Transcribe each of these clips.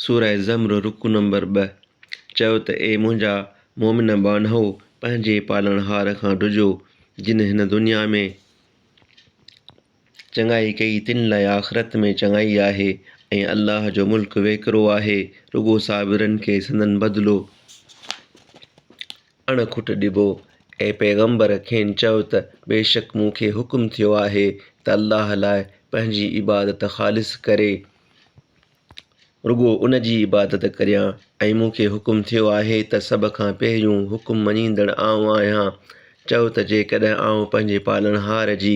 سورة الزمر رڪوع نمبر ٻه، چئو ته اي منهنجا مؤمن ٻانهو! پنهنجي پالڻهار کان ڊڄو، جنھن هن دنيا ۾ چڱائي ڪئي تن لاء آخرت ۾ چڱائي آهي ۽ الله جو ملڪ ويڪرو آهي، رڳو صابرن کي سندن بدلو اڻ کٽ ڏبو. اي پيغمبر! کين چئو ته بيشڪ مون کي حڪم ٿيو آهي ته الله لاء پنهنجي عبادت خالص ڪري. رڳو ان جي عبادت ڪريان ۽ مون کي حڪم ٿيو آهي ته سڀ کان پهريون حڪم مڃيندڙ آئون آهيان. چؤ ته جيڪڏهن آئون پنهنجي پالڻهار جي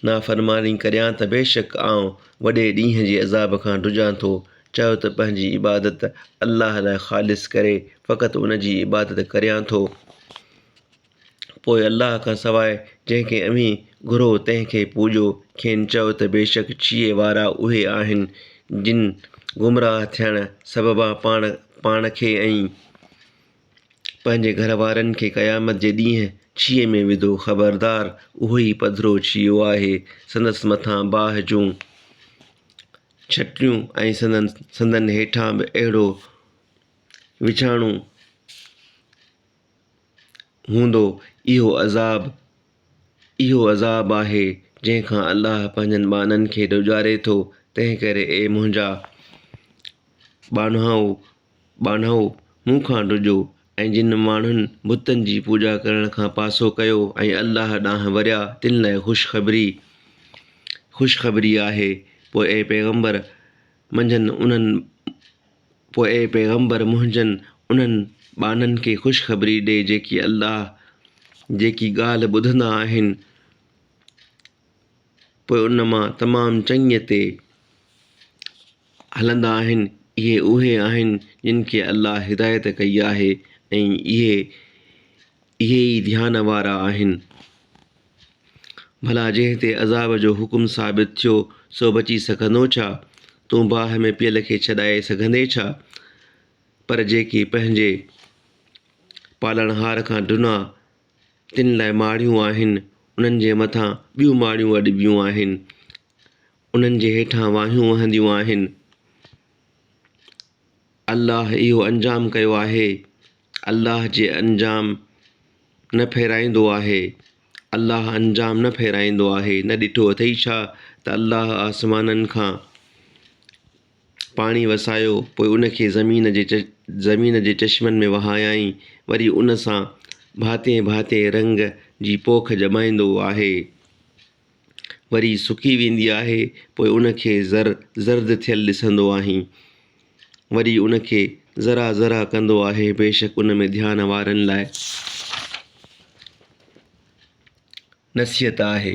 نافرماني ڪريان ته بيشڪ آئون وڏي ڏينهن جي عذاب کان ڊڄان ٿو. چؤ ته پنهنجي عبادت الله لاء خالص ڪري فقط ان جي عبادت ڪريان ٿو. پوء الله کان سواء جنهن کي اوهين گهرو تنهن کي پوڄو، کين چئو ته بيشڪ ڇيهي وارا اهي آهن جن گمراهه ٿيڻ سببان پاڻ پاڻ کي ۽ پنهنجي گهر وارن کي قيامت جي ڏينهن ڇيهي ۾ وڌو، خبردار اهو ئي پڌرو ڇيهو آهي، سندس مٿان باهه جون ڇٽيون ۽ سندن هيٺان به اهڙو وڇاڻو هوندو، اهو عذاب، اهو عذاب آهي، جنهن کان الله پنهنجن ٻانهن کي ڊيڄاري ٿو، تنهنڪري اي منهنجا ٻانهائو، ٻانهائو، مون کان ڊڄو، ۽ جن ماڻهن بتن جي پوڄا ڪرڻ کان پاسو ڪيو ۽ الله ڏانهن وريا، تن لاء خوشخبري، خوشخبري، آهي، پوء اي پيغمبر! منجهن انهن، پوء اي پيغمبر منهنجن انهن ٻانهن کي خوشخبري ڏي جيڪي الله جيڪي ڳالهه ٻڌندا آهن پوء ان مان تمام چڱيء تي هلندا آهن، اهي اهي آهن جن کي الله هدايت ڪئي آهي ۽ اهي اهي ئي ڌيان وارا آهن. ڀلا جنهن تي عذاب جو حڪم ثابت ٿيو سو بچي سگهندو ڇا؟ تون باهه ۾ پيل کي ڇڏائي سگهندين ڇا؟ پر جيڪي پنهنجي پالڻهار کان ڊنا تن لاء ماڙيون آهن، انهن جي مٿان ٻيون ماڙيون اڏبيون آهن، انهن جي هيٺان واهيون وهنديون آهن. الله اهو انجام ڪيو آهي. الله جي انجام نه ڦيرائيندو آهي، الله انجام نه ڦيرائيندو آهي، نه ڏٺو اٿئي ڇا ته الله آسمانن کان پاڻي وسايو پوء ان کي زمين جي زمين جي چشمن ۾ وهايائين وري ان سان ڀانتين ڀانتين رنگ جي پوک ڄمائيندو آهي. وري سڪي ويندي آهي پوء ان کي زر زرد ٿيل ڏسندو آهين وري ان کي ذرا ذرا ڪندو آهي بيشڪ ان ۾ ڌيان وارن لاء نصيحت آهي.